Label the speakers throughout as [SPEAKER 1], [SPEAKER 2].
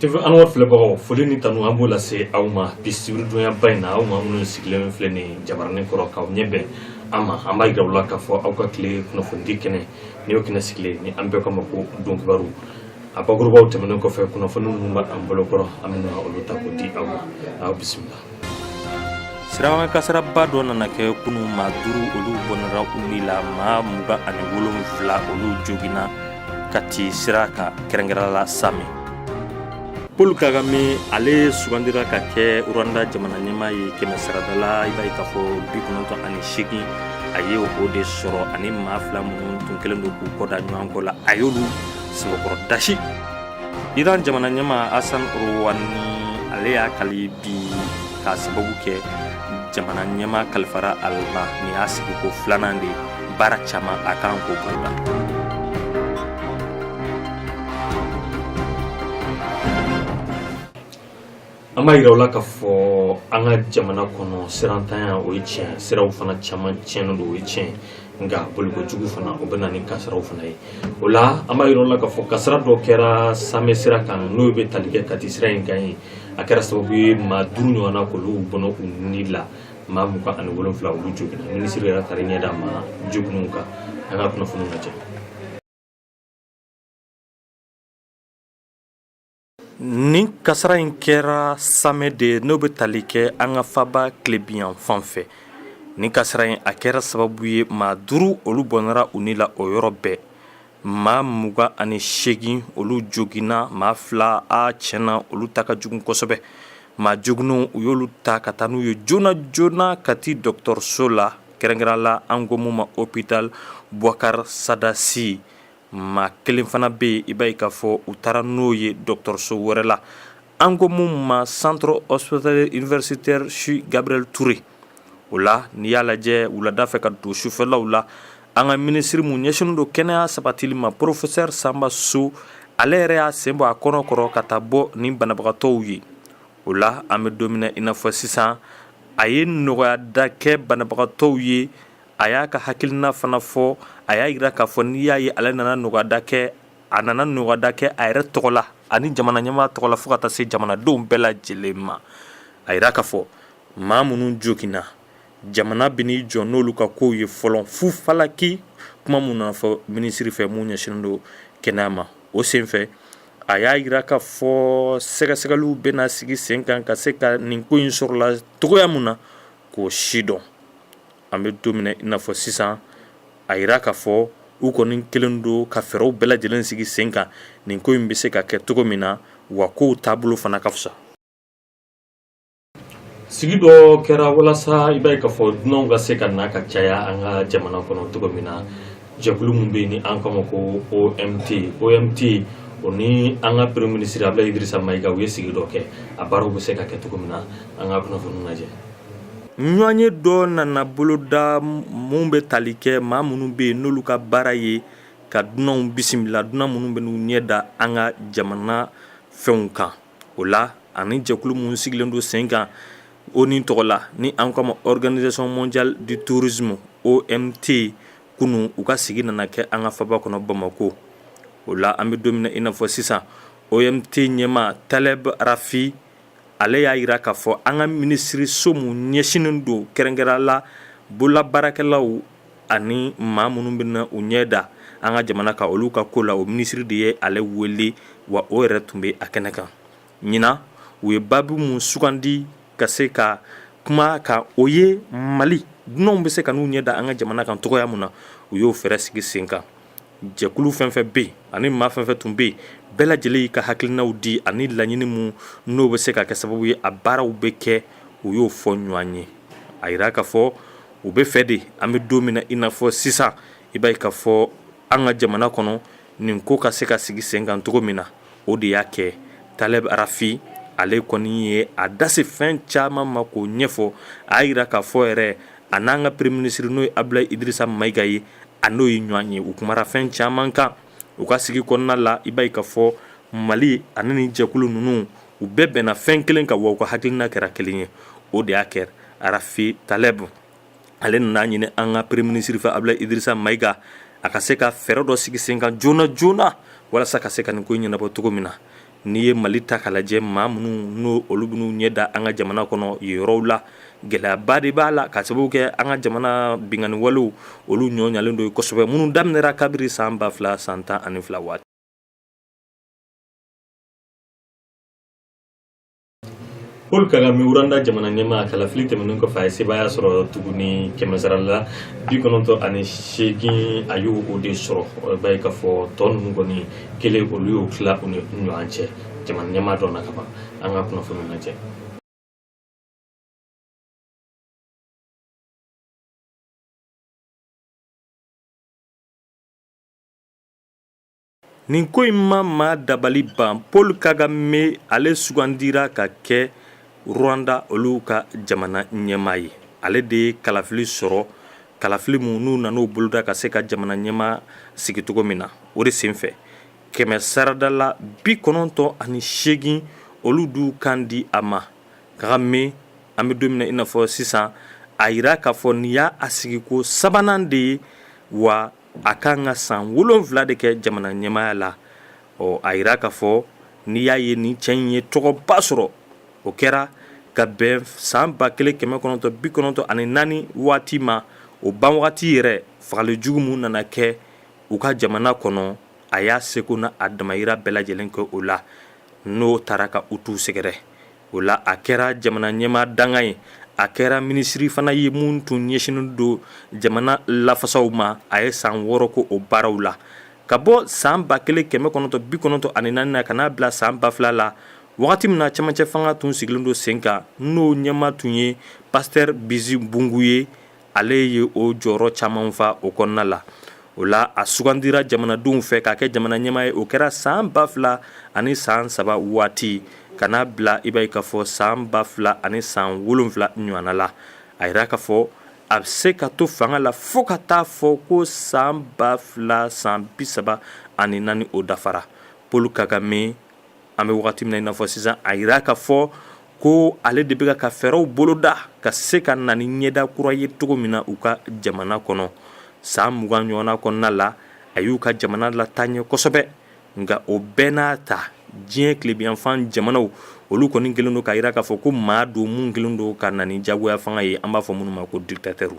[SPEAKER 1] TV Anwar filɛbagaw foli ni tanu an b'o lase aw ma bi sibiridonyaba in na aw ma minnu sigilen filɛ nin jabaranin kɔrɔ k'aw ɲɛ bɛn an ma an b'a yira aw la k'a fɔ aw ka tile kunnafonidi kɛnɛ ni y'o kɛnɛ sigilen ni an bɛɛ kama ko don kibaru a bakurubaw tɛmɛnen kɔfɛ kunnafoni minnu b'an bolo kɔrɔ an bɛna olu ta k'o di aw ma aw bisimila
[SPEAKER 2] sirakan kasaraba dɔ nana kɛ kunun maa duuru olu bɔnɛra u ni la maa mugan ani wolonwula olu joginna Kati sira kan kɛrɛnkɛrɛn la Samɛ Paul Kagame ale sugandira ka kɛ Rwanda jamana ɲɛmaa ye kɛmɛ sarada la i b'a ye k'a fɔ bi kɔnɔntɔn ani seegin a ye o de sɔrɔ ani maa fila minnu tun kɛlen don k'u kɔda ɲɔgɔn kɔ la a y'olu sɛbɛkɔrɔ dasi iran jamana ɲɛmaa Hassan Rouhani ale y'a kali bi k'a sababu kɛ jamana ɲɛmaa kalifara ale ma nin y'a sigiko filanan de baara caman a kan k'o boloda
[SPEAKER 1] An b'a jira aw la k'a fɔ an ka jamana kɔnɔ sirantanya o ye tiɲɛ siraw fana caman tiɲɛnen don o ye tiɲɛ nka bolikojugu fana o bɛ na ni kasaraw fana ye o la an b'a jira aw la k'a fɔ kasara dɔ kɛra Samɛ sira kan n'o bɛ tali kɛ kati sira in kan ye a kɛra sababu ye maa duuru ɲɔgɔnna k'olu bɔnɛ u ni la maa mugan ani wolonwula olu joginna minisiri yɛrɛ taara ɲɛ da maa joginnenw kan an ka kunnafoniw lajɛ
[SPEAKER 2] Nin kasara in kɛra samɛ de n'o bɛ tali kɛ an ka faba tilebinyanfan fɛ nin kasara in a kɛra sababu ye maa duuru olu bɔnɛra u ni la o yɔrɔ bɛɛ maa mugan ani seegin olu joginna maa fila a tiɲɛ na olu ta ka jugu kosɛbɛ maa joginnenw u y'olu ta ka taa n'u ye joona joona kati dɔgɔtɔrɔso la kɛrɛnkɛrɛn la an ko mun ma hôpital Boubacar Sada Sy maa kelen fana bɛ yen i b'a ye k'a fɔ u taara n'o ye dɔgɔtɔrɔso wɛrɛ la an ko mun ma centre hospitalier universitaire CHU Gabriel Toure o la n'i y'a lajɛ wulada fɛ ka don sufɛlaw la an ka minisiri mun ɲɛsinnen don kɛnɛya sabatili ma professeur Samba Sow ale yɛrɛ y'a sen bɔ a kɔnɔ kɔrɔ ka taa bɔ ni banabagatɔw ye o la an bɛ don min na i n'a fɔ sisan a ye nɔgɔyada kɛ banabagatɔw ye a y'a ka hakilina fana fɔ a y'a jira k'a fɔ n'i y'a ye ale nana nɔgɔyada kɛ a nana nɔgɔyada kɛ a yɛrɛ tɔgɔ la ani jamana ɲɛmaa tɔgɔ la fo ka taa se jamanadenw bɛɛ lajɛlen ma a jira k'a fɔ maa minnu joginna jamana bɛn'i jɔ n'olu ka kow ye fɔlɔ fu falaki kuma mun nana fɔ minisiri fɛ mun ɲɛsinnen don kɛnɛya ma o senfɛ a y'a jira k'a fɔ sɛgɛsɛgɛliw bɛna sigi sen kan ka se ka nin ko in sɔrɔla cogoya min na k'o sidɔn An bɛ don min na i n'a fɔ sisan a jira k'a fɔ u kɔni kelen don ka fɛɛrɛw bɛɛ lajɛlen sigi sen kan nin ko in bɛ se ka kɛ cogo min na wa kow taabolo fana ka
[SPEAKER 1] fisa sigi dɔ kɛra walasa i b'a ye k'a fɔ dunanw ka se ka na ka caya an ka jamana kɔnɔ cogo min na Jɛkulu min bɛ yen ni an k'a ma ko OMT OMT o ni an ka premier ministre Abdoulaye Idrissa Maïga u ye sigi dɔ kɛ a baaraw bɛ se ka kɛ cogo min na an ka kunnafoni lajɛ
[SPEAKER 2] ɲɔgɔnye dɔ nana boloda min bɛ tali kɛ maa minnu bɛ yen n'olu ka baara ye ka dunanw bisimila dunan minnu bɛ n'u ɲɛ da an ka jamana fɛnw kan o la ani jɛkulu minnu sigilen don sen kan o ni tɔgɔ la ni an k'a ma organisation mondiale du tourisme OMT kunun u ka sigi nana kɛ an ka faba kɔnɔ Bamakɔ o la an bɛ don min na i n'a fɔ sisan OMT ɲɛmaa Taleb Rafi ale y'a jira k'a fɔ an ka minisiriso min ɲɛsinnen don kɛrɛnkɛrɛnya la bololabaarakɛlaw ani maa minnu bɛ na u ɲɛ da an ka jamana kan olu ka ko la o minisiri de ye ale wele wa o yɛrɛ tun bɛ a kɛnɛ kan ɲinan u ye baabu min sugandi ka se ka kuma kan o ye Mali dunanw bɛ se ka n'u ɲɛ da an ka jamana kan cogoya min na u y'o fɛɛrɛ sigi sen kan jɛkulu fɛn fɛn bɛ yen ani maa fɛn fɛn tun bɛ yen bɛɛ lajɛlen y'i ka hakilinaw di ani laɲini min n'o bɛ se ka kɛ sababu ye a baaraw bɛ kɛ u y'o fɔ ɲɔgɔn ye a jira k'a fɔ u bɛ fɛ de an bɛ don min na i n'a fɔ sisan i b'a ye k'a fɔ an ka jamana kɔnɔ nin ko ka se ka sigi sen kan cogo min na o de y'a kɛ Taleb Rafi ale kɔni ye a da se fɛn caman ma k'o ɲɛfɔ a jira k'a fɔ yɛrɛ a n'an ka premier ministre n'o ye Abdoulaye Idrissa Maïga ye a n'o ye ɲɔgɔn ye u kumara fɛn caman kan u ka sigi kɔnɔna la i b'a ye k'a fɔ Mali ani ni jɛkulu ninnu u bɛɛ bɛnna fɛn kelen kan wa u ka hakilina kɛra kelen ye o de y'a kɛ Rafi Taleb ale nan'a ɲini an ka premier ministre fɛ Abdoulaye Idrissa Maïga a ka se ka fɛɛrɛ dɔ sigi sen kan joona joona walasa ka se ka nin ko ɲɛnabɔ cogo min na n'i ye Mali ta k'a lajɛ maa minnu n'olu bɛ n'u ɲɛ da an ka jamana kɔnɔ yen yɔrɔw la gɛlɛyaba de b'a la ka sababu kɛ an ka jamana binkanniwalew olu ɲɔlen don kosɛbɛ minnu daminɛra kabiri san ba fila san tan ani fila waati
[SPEAKER 1] Paul Kagame Rwanda jamana ɲɛmaa kalafili tɛmɛnen kɔfɛ a ye sebaaya sɔrɔ tuguni kɛmɛ sara la bi kɔnɔntɔn ani seegin a y'o o de sɔrɔ o b'a ye k'a fɔ tɔ ninnu kɔni kelen olu y'o tila u ni ɲɔgɔn cɛ jamana ɲɛmaa dɔnna ka ban an ka kunnafoni lajɛ
[SPEAKER 2] Nin ko in ma maa dabali ban Paul Kagame ale sugandira ka kɛ Rwanda olu ka jamana ɲɛmaa ye ale de ye kalafili sɔrɔ kalafili min n'u nana o boloda ka se ka jamana ɲɛmaa sigi cogo min na o de senfɛ kɛmɛ sarada la bi kɔnɔntɔn ani seegin olu d'u kan di a ma Kagame an bɛ don min na i n'a fɔ sisan a jira k'a fɔ nin y'a sigiko sabanan de ye wa a ka kan ka san wolonwula de kɛ jamana ɲɛmaaya la ɔ a jira k'a fɔ n'i y'a ye nin cɛ in ye tɔgɔba sɔrɔ o kɛra ka bɛn san ba kelen kɛmɛ kɔnɔntɔn bi kɔnɔntɔn ani naani waati ma o ban wagati yɛrɛ fagali jugu min nana kɛ u ka jamana kɔnɔ a y'a seko n'a damayira bɛɛ lajɛlen kɛ o la n'o taara ka Hutu sɛgɛrɛ o la a kɛra jamana ɲɛmaa dankan ye a kɛra minisiri fana ye min tun ɲɛsinnen don jamana lafasaw ma a ye san wɔɔrɔ kɛ o baaraw la ka bɔ san ba kelen kɛmɛ kɔnɔntɔn bi kɔnɔntɔn ani naani na ka n'a bila san ba fila la wagati min na camancɛ fanga tun sigilen don sen kan n'o ɲɛmaa tun ye Pasteur Bizimungu ye ale ye o jɔyɔrɔ caman fa o kɔnɔna la o la a sugandira jamanadenw fɛ k'a kɛ jamana ɲɛmaa ye o kɛra san ba fila ani san saba waati ka n'a bila i b'a ye k'a fɔ san ba fila ani san wolonwula ɲɔgɔnna la a jira k'a fɔ a bɛ se ka to fanga la fo ka t'a fɔ ko san ba fila san bi saba ani naani o dafara Paul Kagame An bɛ waati min na i n'a fɔ sisan a jira k'a fɔ ko ale de bɛ ka fɛɛrɛw boloda ka se ka na ni ɲɛda kura ye cogo min na u ka jamana kɔnɔ san mugan ɲɔgɔnna kɔnɔna la a y'u ka jamana lataa ɲɛ kosɛbɛ nka o bɛɛ n'a ta diɲɛ tilebiyanfan jamanaw olu kɔni kɛlen don k'a jira k'a fɔ ko maa don min kɛlen don ka na ni jagoya fanga ye an b'a fɔ minnu ma ko dictateurs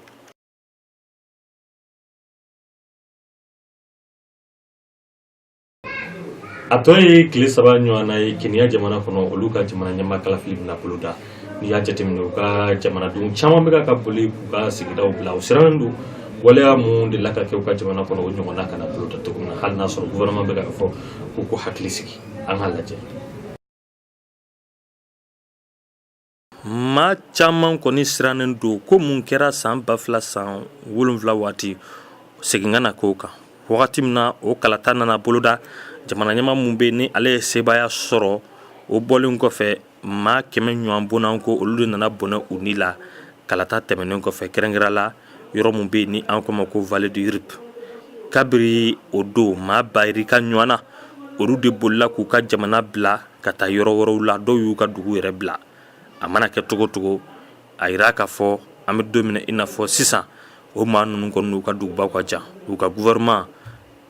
[SPEAKER 1] a tɔ ye tile saba ɲɔgɔnna ye kenya jamana kɔnɔ olu ka jamana ɲɛmaa kalafili bɛna boloda n'i y'a jateminɛ u ka jamanadenw caman bɛ ka boli k'u ka sigidaw bila u sirannen don waleya min dela ka kɛ u ka jamana kɔnɔ o ɲɔgɔnna kana boloda cogo min na hali n'a sɔrɔ gouvernement bɛ k'a fɔ k'u k'u hakili sigi an k'a lajɛ
[SPEAKER 2] Maa caman kɔni sirannen don ko min kɛra san ba fila san wolonwula waati segin ka na k'o kan wagati min na o kalata nana boloda jamana ɲɛmaa min bɛ ni ale ye sebaaya sɔrɔ o bɔlen kɔfɛ maa kɛmɛ ɲɔgɔn bɔnɛna ko olu de nana bɔnɛ u ni la kalata tɛmɛnen kɔfɛ kɛrɛnkɛrɛn la yɔrɔ min bɛ ni an k'o ma ko vallée du Rift kabiri o don maa ba yirika ɲɔgɔnna olu de bolila k'u ka jamana bila ka taa yɔrɔ wɛrɛw la dɔw y'u ka dugu yɛrɛ bila a mana kɛ cogo cogo a jira k'a fɔ an bɛ don min na i n'a fɔ sisan o maa ninnu kɔni n'u ka dugubaw ka jan u ka gouvernement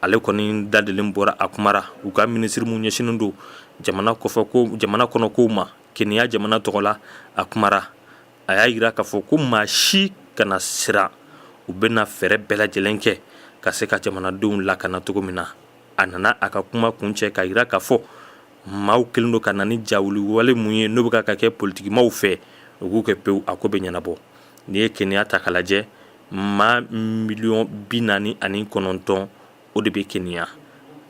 [SPEAKER 2] ale kɔni dadelen bɔra a kumara u ka minisiri mun ɲɛsinnen don jamana kɔnɔ kow ma Kenya jamana tɔgɔ la a kumara a y'a jira k'a fɔ ko maa si kana siran u bɛna fɛɛrɛ bɛɛ lajɛlen kɛ ka se ka jamanadenw lakana cogo min na a nana a ka kuma kuncɛ k'a jira k'a fɔ maaw kelen don ka na ni jawuli wale mun ye n'o bɛ ka kɛ politikimaw fɛ u k'u kɛ pewu a ko bɛ ɲɛnabɔ n'i ye Kenya ta k'a lajɛ maa miliyɔn bi naani ani kɔnɔntɔn o de bɛ Kenya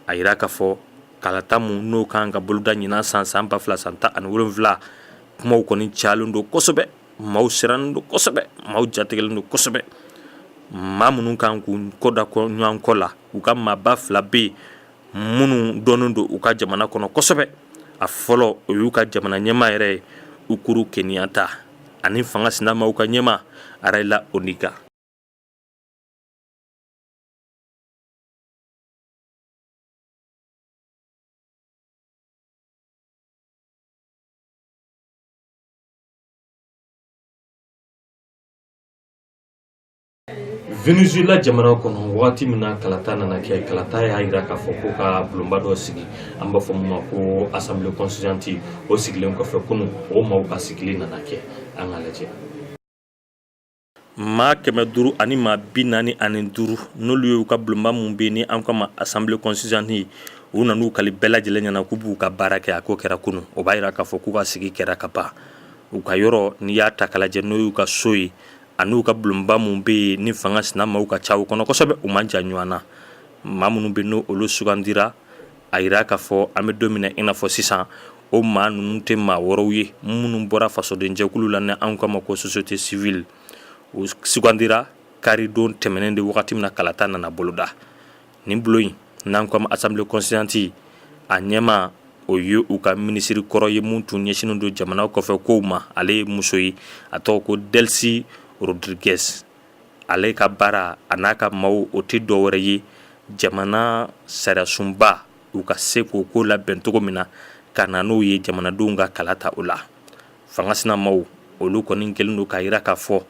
[SPEAKER 2] a jira k'a fɔ kalata mun n'o kan ka boloda ɲinan san san ba fila san tan ani wolonwula kumaw kɔni cayalen don kosɛbɛ maaw sirannen don kosɛbɛ maaw jatigɛlen don kosɛbɛ maa minnu kan k'u kɔda ɲɔgɔn kɔ la u ka maaba fila bɛ yen minnu dɔnnen don u ka jamana kɔnɔ kosɛbɛ a fɔlɔ o y'u ka jamana ɲɛmaa yɛrɛ ye Uhuru Kenyatta ani fanga sinamaw ka ɲɛmaa Raila Odinga
[SPEAKER 1] Venezuela jamana kɔnɔ waati min na kalata nana kɛ kalata y'a jira k'a fɔ k'u ka bulonba dɔ sigi an b'a fɔ min ma ko assemblée constituante o sigilen kɔfɛ kunu o maaw ka sigili nana kɛ an k'a lajɛ
[SPEAKER 2] maa kɛmɛ duuru ani maa bi naani ani duuru n'olu ye u ka bulonba mun bɛ ni an k'a ma assemblée constituante u nan'u kali bɛɛ lajɛlen ɲɛ na k'u b'u ka baara kɛ a ko kɛra kunu o b'a jira k'a fɔ k'u ka sigi kɛra ka ban u ka yɔrɔ n'i y'a ta k'a lajɛ n'o y'u ka so ye ani u ka bulonba mun bɛ yen ni fanga sinamaw ka ca u kɔnɔ kosɛbɛ u man jan ɲɔgɔn na maa minnu bɛ n'olu sugandira a jira k'a fɔ an bɛ don min na i n'a fɔ sisan o maa ninnu tɛ maa wɛrɛw ye minnu bɔra fasodenjɛkulu la ni an k'a ma ko société civile u sugandira karidon tɛmɛnen de wagati min na kalata nana boloda nin bulon in n'an ko a ma assemblée constituante a ɲɛmaa o ye u ka minisiri kɔrɔ ye min tun ɲɛsinnen don jamana kɔfɛ kow ma ale ye muso ye a tɔgɔ ko Delcy Rodriguez ale ka baara a n'a ka maaw o tɛ dɔ wɛrɛ ye jamana sariyasunba u ka se k'o ko labɛn cogo min na ka na n'o ye jamanadenw ka kalata o la fanga sina maaw olu kɔni kɛlen don k'a jira k'a fɔ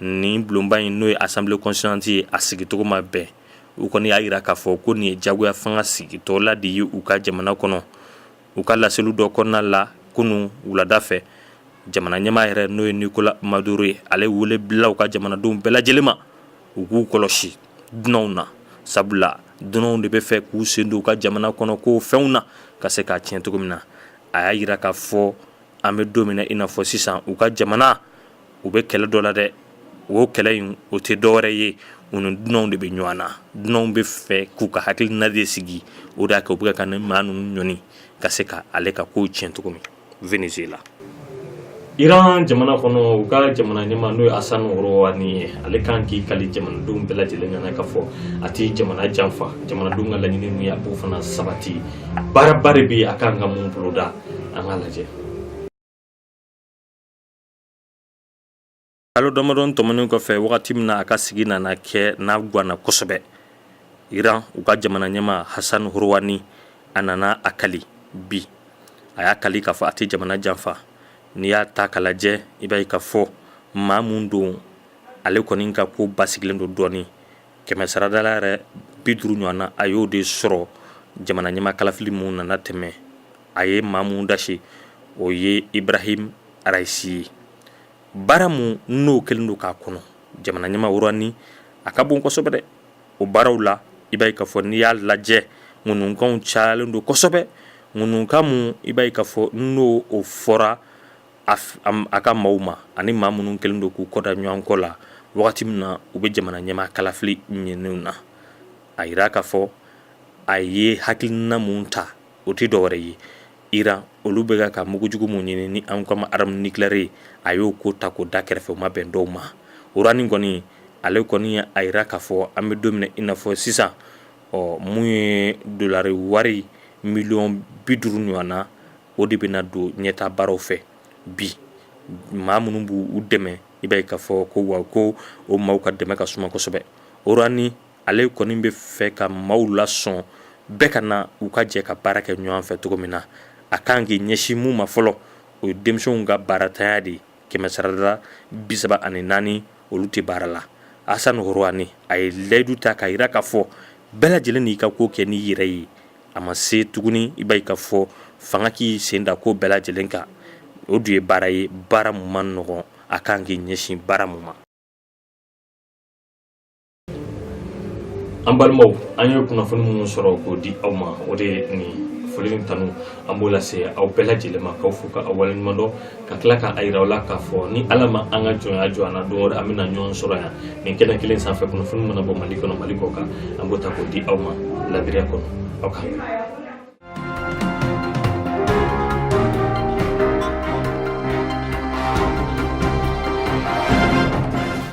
[SPEAKER 2] nin bulonba in n'o ye assemblée constituante ye a sigicogo ma bɛn u kɔni y'a jira k'a fɔ ko nin ye jagoya fanga sigitɔla de ye u ka jamana kɔnɔ u ka laseliw dɔ kɔnɔna la kunun wulada fɛ jamana ɲɛmaa yɛrɛ n'o ye Nicolas Maduro ye ale wele bila u ka jamanadenw bɛɛ lajɛlen ma u k'u kɔlɔsi dunanw na sabula dunanw de bɛ fɛ k'u sen don u ka jamana kɔnɔ ko fɛnw na ka se k'a tiɲɛ cogo min na a y'a jira k'a fɔ an bɛ don min na i n'a fɔ sisan u ka jamana u bɛ kɛlɛ dɔ la dɛ o kɛlɛ in o tɛ dɔwɛrɛ ye u ni dunanw de bɛ ɲɔgɔn na dunanw bɛ fɛ k'u ka hakilina de sigi o de y'a kɛ u bɛ ka nin maa ninnu ɲɔni ka se ka ale ka kow tiɲɛ cogo min Venezuela
[SPEAKER 1] Iran jamana kɔnɔ u ka jamana ɲɛma n'o ye Hassan Rouhani ye ale kan k'i kali jamanadenw bɛɛ lajɛlen ɲɛna k'a fɔ a tɛ jamana janfa jamanadenw ka laɲini min ye a b'o fana sabati baaraba de bɛ a ka kan ka mun boloda
[SPEAKER 2] an k'a lajɛ kalo damadɔ tɛmɛnen kɔfɛ wagati min na a ka sigi nana kɛ n'a gwanna kosɛbɛ Iran u ka jamana ɲɛma Hassan Rouhani a nana a kali bi a y'a kali k'a fɔ a tɛ jamana janfa n'i y'a ta k'a lajɛ i b'a ye k'a fɔ maa min don ale kɔni ka ko basigilen don dɔɔni kɛmɛsarada la yɛrɛ bi duuru ɲɔgɔn na a y'o de sɔrɔ jamana ɲɛma kalafili min nana tɛmɛ a ye maa min dasi o ye Ibrahim Raisi ye baara min n'o kɛlen don k'a kɔnɔ jamana ɲɛma Rouhani a ka bon kosɛbɛ dɛ o baaraw la i b'a ye k'a fɔ n'i y'a lajɛ ŋununkanw cayalen don kosɛbɛ ŋununkan min i b'a ye k'a fɔ n'o o fɔra a ka maaw ma ani maa minnu kɛlen don k'u kɔ da ɲɔgɔn kɔ la wagati min na u bɛ jamana ɲɛmaa kalafili ɲini na a jira k'a fɔ a ye hakilina min ta o tɛ dɔwɛrɛ ye Iran olu bɛ ka mugujugu min ɲini ni an k'a ma arme nucléaire ye a y'o ko ta k'o da kɛrɛfɛ o ma bɛn dɔw ma Rouhani kɔni ale kɔni ye a jira k'a fɔ an bɛ don min na i n'a fɔ sisan ɔ mun ye dolari wari miliyɔn bi duuru ɲɔgɔnna o de bɛna don ɲɛta baaraw fɛ bi maa minnu b'u dɛmɛ i b'a ye k'a fɔ ko wa ko o maaw ka dɛmɛ ka suma kosɛbɛ Rouhani ale kɔni bɛ fɛ ka maaw lasɔn bɛɛ ka na u ka jɛ ka baara kɛ ɲɔgɔn fɛ cogo min na a kan k'i ɲɛsin mun ma fɔlɔ o ye denmisɛnw ka baaratanya de ye kɛmɛsarada bi saba ani naani olu tɛ baara la Hassan Rouhani a ye layidu ta k'a jira k'a fɔ bɛɛ lajɛlen n'i ka ko kɛ n'i yɛrɛ ye a ma se tuguni i b'a ye k'a fɔ fanga k'i sen da ko bɛɛ lajɛlen kan o dun ye baara ye baara min man nɔgɔn a ka kan k'i ɲɛsin baara min ma
[SPEAKER 1] an balimaw an ye kunnafoni minnu sɔrɔ k'o di aw ma o de ye nin foli ni tanu an b'o lase aw bɛɛ lajɛlen ma k'aw fo k'aw waleɲumandɔn ka tila k'a yira aw la k'a fɔ ni ala ma an ka jɔnya jɔ an na don wɛrɛ an bɛna ɲɔgɔn sɔrɔ yan nin kɛnɛ kelen sanfɛ kunnafoni mana bɔ mali kɔnɔ mali kɔkan an b'o ta k'o di aw ma ladiriya kɔnɔ aw kan